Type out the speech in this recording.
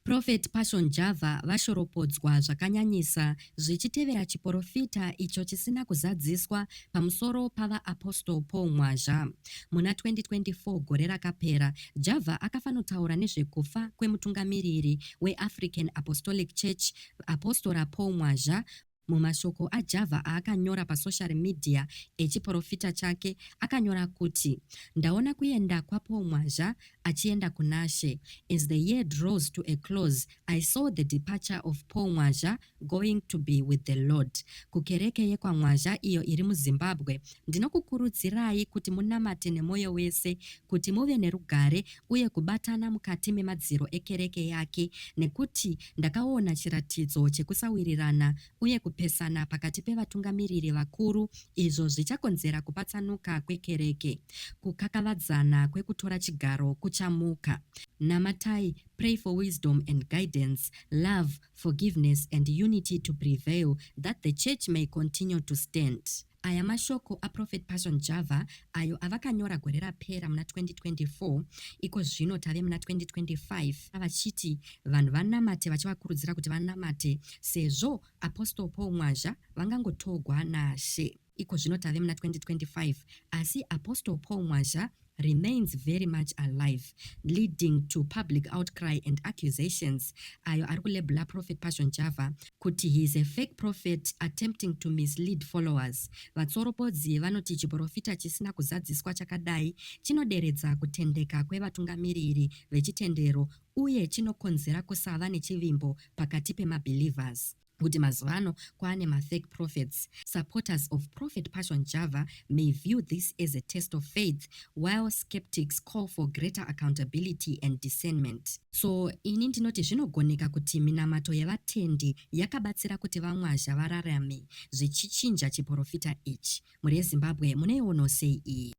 Prophet Passion Java vashoropodzwa zvakanyanyisa zvichitevera chiporofita icho chisina kuzadziswa pamusoro paVaApostle Paul Mwazha. Muna 2024 gore rakapera, Java akafanotaura nezvekufa kwemutungamiriri weAfrican Apostolic Church, Apostora Paul Mwazha, Mumashoko aJava aakanyora pasoshari midhiya echiporofita chake, akanyora kuti, Ndaona kuenda kwaPaul Mwazha achienda kunaShe. As the year draws to a close, I saw the departure of Paul Mwazha going to be with the Lord. Kukereke yekwaMwazha iyo iri muZimbabwe, ndinokukurudzirai kuti munamate nemwoyo wese, kuti muve nerugare uye kubatana mukati memadziro ekereke yake, nekuti Ndakaona chiratidzo chekusawirirana uye kupesana pakati pevatungamiriri vakuru izvo zvichakonzera kupatsanuka kwekereke. Kukakavadzana kwekutora chigaro kuchamuka. Namatai, pray for wisdom and guidance, love, forgiveness and unity to prevail that the church may continue to stand. Aya mashoko aProphet Passion Java ayo avakanyora gore rapera muna 2024. Iko zvino tave muna 2025 vachiti vanhu vanamate vachivakurudzira kuti vanamate sezvo Apostle Paul Mwazha vangangotogwa naShe. Iko zvino tave muna 2025 asi Apostle Paul Mwazha remains very much alive leading to public outcry and accusations ayo ari kulebula prophet passion java kuti he is a fake prophet attempting to mislead followers vatsoropodzi vanoti chiprofita chisina kuzadziswa chakadai chinoderedza kutendeka kwevatungamiriri vechitendero uye chinokonzera kusava nechivimbo pakati pemabelievers kuti mazuva ano kwaane mafake prophets. Supporters of Prophet Passion Java may view this as a test of faith while skeptics call for greater accountability and discernment. So ini ndinoti zvinogoneka kuti minamato yevatendi yakabatsira kuti vamwazha vararame zvichichinja chiporofita ichi. Mhuri yeZimbabwe munoionawo sei iyi?